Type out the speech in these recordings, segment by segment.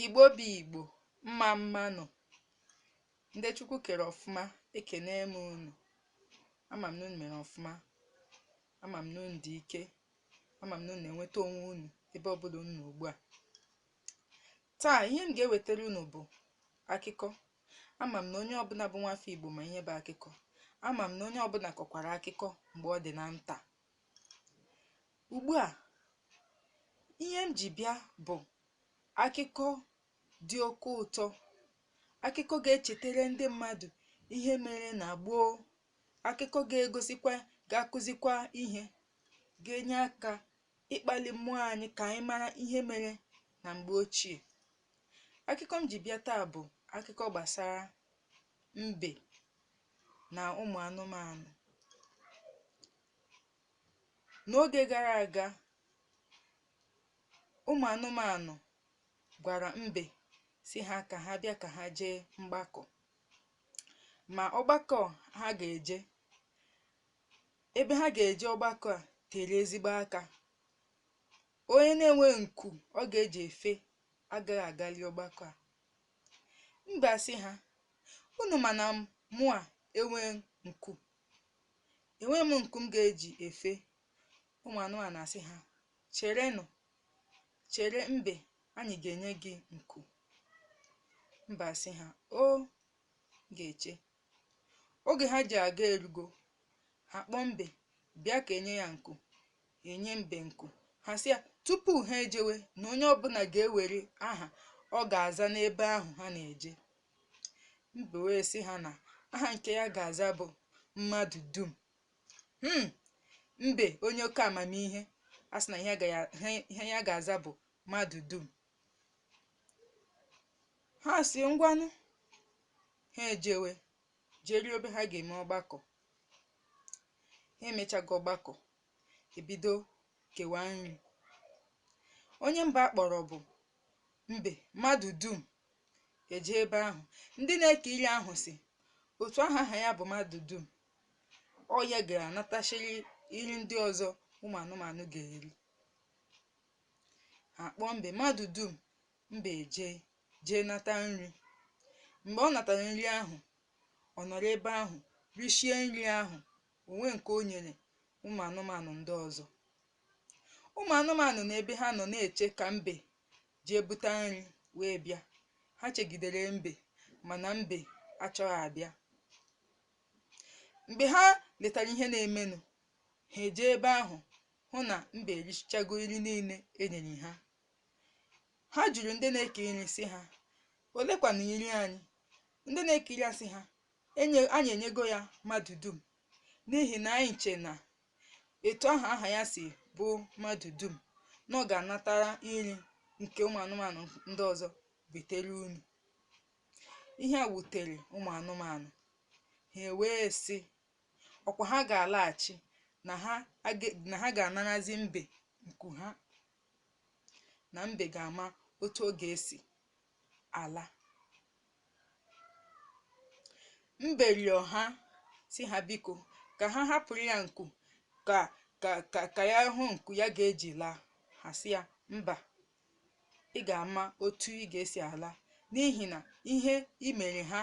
Igbo bụ Igbo, mma mma nụ. Ndị Chukwu kere ọfụma, ekene m unu. Ama m na unu mere ọfụma. Ama m na unu dị ike. Ama m na unu na-enweta onwe unu ebe ọbụla unu nọ ugbu a. Taa, ihe m ga-ewetara unu bụ akụkọ. Ama m na onye ọbụla bụ nwafọ Igbo ma ihe bụ akụkọ. Ama m na onye ọbụla kọkwara akụkọ mgbe ọ dị na nta. ugbu a ihe m ji bịa bụ akụkọ dị oke ụtọ akụkọ ga-echetere ndị mmadụ ihe mere na gboo akụkọ ga-egosikwa ga-akụzikwa ihe ga-enye aka ịkpali mmụọ anyị ka anyị mara ihe mere na mgbe ochie akụkọ m ji bịa taa bụ akụkọ gbasara mbe na ụmụ anụmanụ. N'oge gara aga, ụmụ anụmanụ gwara mbe sị ha ka ha bịa ka ha jee mgbakọ. Ma ọgbakọ ha ga-eje, ebe ha ga-eje ọgbakọ a tere ezigbo aka. Onye na-enwe nku ọ ga-eji efe agaghị agali ọgbakọ a. Mbe asị ha, Unu ma na mụa enweghị nku. Enweghị m nku m ga-eji efe ụmụ anụmanụ asị ha, Cherenụ, chere mbe anyị ga-enye gị nku. Mbe asị ha, O, m ga-eche. Oge ha ji aga erugo, ha kpọọ mbe bịa ka e nye ya nku. E nye mbe nku, ha sị ya tupu ha ejewe na onye ọbụla ga-ewere aha ọ ga-aza n'ebe ahụ ha na-eje. Mbe wee sị ha na aha nke ya ga-aza bụ mmadụ dum. Hmm! Mbe onye oke amamihe asị na ihe ya ga-aza bụ mmadụ dum. ha sị ngwanụ ha ejewe jeruo ebe ha ga-eme ọgbakọ ha emechago ọgbakọ e bido kewa nri onye mbụ a kpọrọ bụ mbe mmadụ dum eje ebe ahụ ndị na-eke iri ahụ sị otu aha aha ya bụ mmadụ dum ọ ya ga-anatachiri iri ndị ọzọ ụmụ anụmanụ ga-eri a kpọọ mbe mmadụ dum mbe eje jee nata nri mgbe ọ natara nri ahụ ọ nọrọ ebe ahụ rishie nri ahụ o nwe nke o nyere ụmụ anụmanụ ndị ọzọ ụmụ anụmanụ na ebe ha nọ na-eche ka mbe jee buta nri wee bịa ha chegidere mbe mana mbe achọghị abịa mgbe ha letara ihe na-emenụ ha eje ebe ahụ hụ na mbe erichago nri niile e nyere ha. Ha jụrụ ndị na-eke nri sị ha, Olekwanụ nri anyị? Ndị na-eke nri asị ha, Enye, anyị enyego ya mmadụ dum, n'ihi na anyị che na etu ahụ aha ya si bụ mmadụ dum na ọ ga-anatara nri nke ụmụ anụmanụ ndị ọzọ butere unu. Ihe a wutere ụmụ anụmanụ, ha ewee sị, ọkwa ha ga-alaghachi na ha aga- na ha ga-anarazi mbe nku ha na mbe ga-ama otu ọ ga-esi ala mbe rịọ ha sị ha biko ka ha hapụrụ ya nku ka ka ka ka ya hụ nku ya ga-eji laa ha sị ya mba ị ga-ama otu ị ga-esi ala n'ihi na ihe i mere ha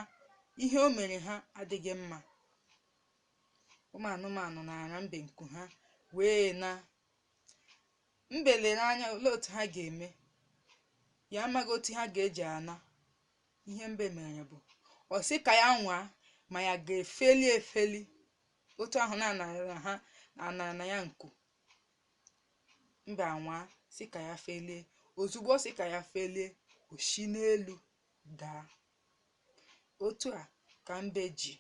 ihe o mere ha adịghị mma ụmụ anụmanụ nara mbe nku ha wee na mbe lere anya olee otu ha ga-eme ya amaghị otu ha ga-eji ana ihe mbe mere bụ ọ sị ka ya nwaa ma ya ga-efeli efeli otu ahụ na ha anarana ya nku mbe anwaa sị ka ya felie ozugbo ọ sị ka ya felie o si n'elu daa otu a ka mbe ji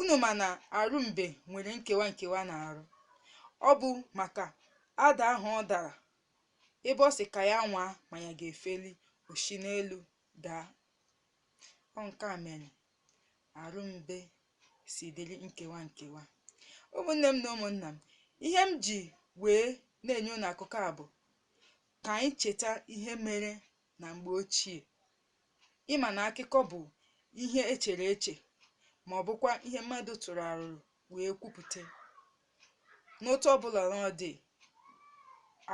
unu ma na arụ mbe nwere nkewa nkewa na arụ ọ bụ maka ada ahụ ọ dara ebe ọ sị ka ya nwaa ma ya ga-efeli o si n'elu daa ọ nke a mere arụ mbe si dịrị nkewa nkewa ụmụnne m na ụmụnna m ihe m ji wee na-enye unu akụkọ a bụ ka anyị cheta ihe mere na mgbe ochie ị ma na akụkọ bụ ihe e chere eche ma ọ bụkwa ihe mmadụ tụrụ arụrụ wee kwupụta n'otu ọ bụla na ọ dị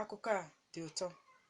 akụkọ a dị ụtọ